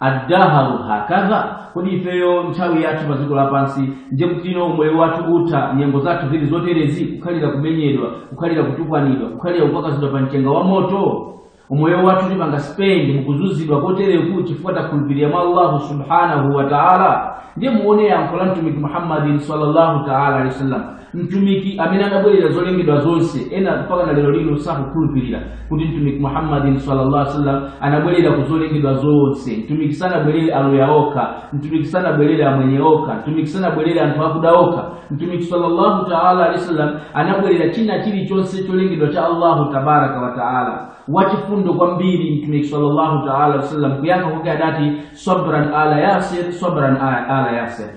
Ad-dahru hakadha, kodi ifeyo nthawi yathu pa dziko lapansi ndiye kutino umoyo wathu utha, nyengo zathu zili zoterezi, kukhalira kumenyedwa, kukhalira kutukwanidwa, kukhalira kukwakwazidwa pa mchenga wa moto? Umoyo wathu tipanga spend mukuzunzidwa kotereku chifukwa takhulupirira mwa Allahu subhanahu wa ta'ala? Ndiye muone yankho la Mtumiki Muhammadin sallallahu ta'ala alaihi wasallam. mtumiki amene adabwerera zolengedwa zonse ena mpaka na lero lino sakukhulupirira kuti mtumiki muhammadin sallallahu alaihi wasallam anabwerera ku zolengedwa zonse mtumiki sanabwerere aluya okha mtumiki sanabwerere amwenye okha mtumiki sanabwerere anthu akuda okha mtumiki sallallahu taala alaihi wasallam anabwerera china chilichonse cholengedwa cha allahu tabaraka wa taala wachifundo kwambiri mtumiki sallallahu taala alaihi wasallam kuyankha kwake adati sabran ala yasir sabran ala yasir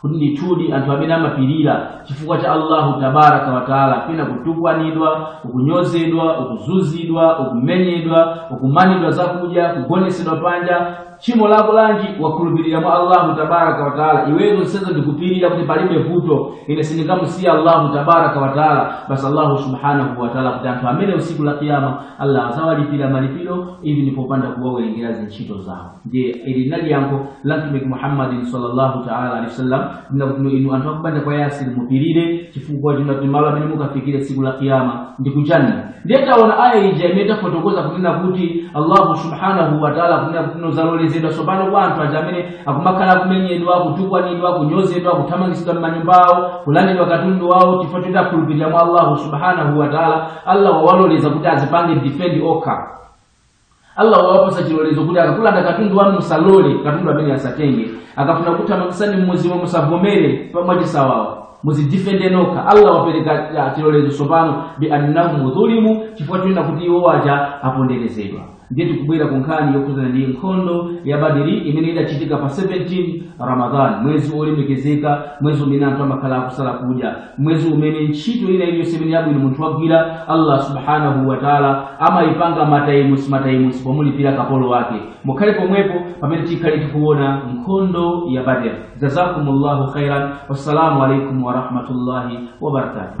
kuti ndithudi anthu amene amapirira chifukwa cha allahu tabaraka wataala pena kutukwanidwa ukunyozedwa ukuzunzidwa ukumenyedwa ukumanidwa zakudya kugonesedwa panja tchimo lako lanji wakhulupirira mwa allahu tabaraka wataala iwe zonsezo ndikupirira kuti palibe vuto ine sindingamusiya allahu tabaraka wataala basi allahu subhanahu wataala kuti anthu amenewo tsiku la kiyama allah azawalipira malipiro ili ndipopanda kuwawerengera zintchito zawo ndiye ili linali yankho la mtumiki muhammadin sallallahu taala alehi wasallam kunena kutino inu anthu akubanja kwa yasiri mupirire chifukwa chimalo amene mukafikire tsiku la kiyama ndi kujanna ndiye taona aya ija imene tafotokoza kunena kuti allahu subhanahu wataala kunena kutino zalolezedwa tsopano kwa anthu aja amene akumakhala akumenyedwa kutukwanidwa kunyozedwa kuthamangitsidwa m'manyumba awo kulandidwa katundu wawo chifukwa choti akhulupirira mwa allahu subhanahu wataala allah wawaloleza kuti azipange defend okha allah wawapatsa chilolezo kuti akakulanda katundu wanu musalole katundu ameneyo asatenge akafuna kuthamangitsani mmuziwo musavomere pamwachisawawo muzidifende nokha allah wapereka chilolezo tsopano bi annahum dhulimu chifukwa chonena kuti iwo aja aponderezedwa ndiye tikubwera ku nkhani yokhudzana ndi nkhondo ya badiri imene idachitika pa 17 ramadhan mwezi wolemekezeka mwezi umene anthu amakhala akusala kudya mwezi umene ntchito ina iliyonse imene yabwino munthu wagwira allah subhanahu wataala amayipanga matayimusi matayimusi pomulipira kapolo wake mukhale pomwepo pamene tikhale tikuona nkhondo ya badr jazakumullahu khairan wassalamu alaikum warahmatullahi wabarakatuh